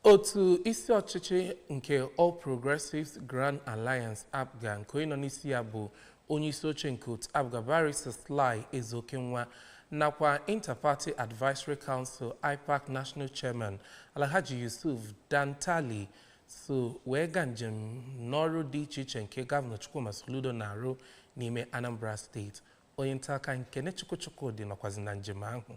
otu isi ọchịchị nke All Progressives Grand Alliance APGA nke onye nọ n'isi ya bụ onye isi oche nke otu APGA Barrister Sly Ezeokenwa nakwa Interparty Advisory Council IPAC National Chairman Alhaji Yusuf Dantalle so wee gaa njem n'ọrụ dị iche iche nke gọvanọ Chukwuma Soludo na-arụ n'ime Anambra State onye nta akụkọ Kenechukwu Chukwudi nọkwazi na njem ahụ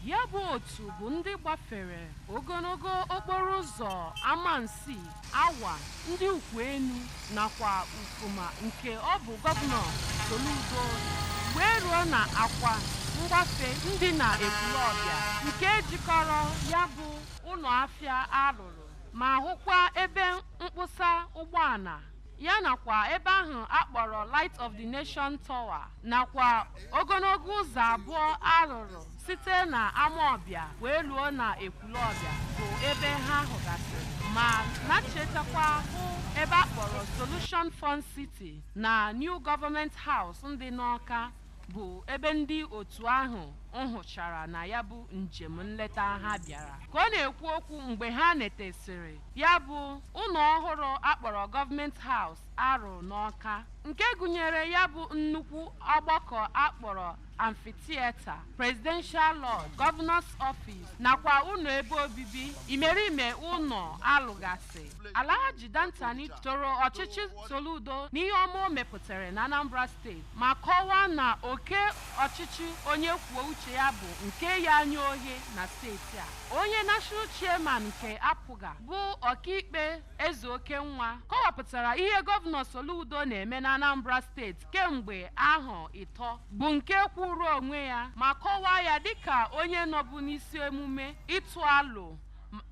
ya bụ otu bụ ndị gbafere ogologo okporo ụzọ Amansea Awa Ndiukwuenu nakwa Ufuma nke ọ bụ gọvanọ Soludo rụrụ wee ruo na akwa mgbafe ndị na Ekwulọbịa nke jikọrọ ya bụ ụlọ afịa a rụrụ ma hụkwa ebe mkpụsa ụgbọala ya nakwa ebe ahụ a kpọrọ Light of the Nation Tower nakwa ogologo ụzọ abụọ a rụrụ site na Amawbịa wee ruo na Ekwulọbịa bụ ebe ha hụgasịrị ma nachetakwa hụ ebe a kpọrọ Solution Fun City na New Government House ndị n'Ọka bụ ebe ndị otu ahụ nhụchara na ya bụ njem nleta ha bịara ka ọ na-ekwu okwu mgbe ha netesịrị ya bụ ụlọ ọhụrụ a kpọrọ Government House a rụrụ n'Ọka nke gụnyere ya bụ nnukwu ọgbakọ a kpọrọ Amphitheatre Presidential Lodge Governor's Office nakwa ụlọ ebe obibi imerime ụlọ a lụgasị Alhaji Dantalle toro ọchịchị Soludo n'ihe ọma o mepụtara na Anambra steeti ma kọwaa na oke ọchịchị onye kwuo uche ya bụ nke ya anya ohe na steeti a. Onye National Chairman nke APGA bụ ọkaikpe Ezeokenwa kọwapụtara ihe gọvanọ Soludo na-eme na Anambra steeti kemgbe ahọ ịtọ, bụ nke kwuru onwe ya ma kọwaa ya dịka onye nọbu n'isi emume ịtụ alo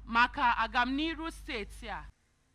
maka agamniru steeti a.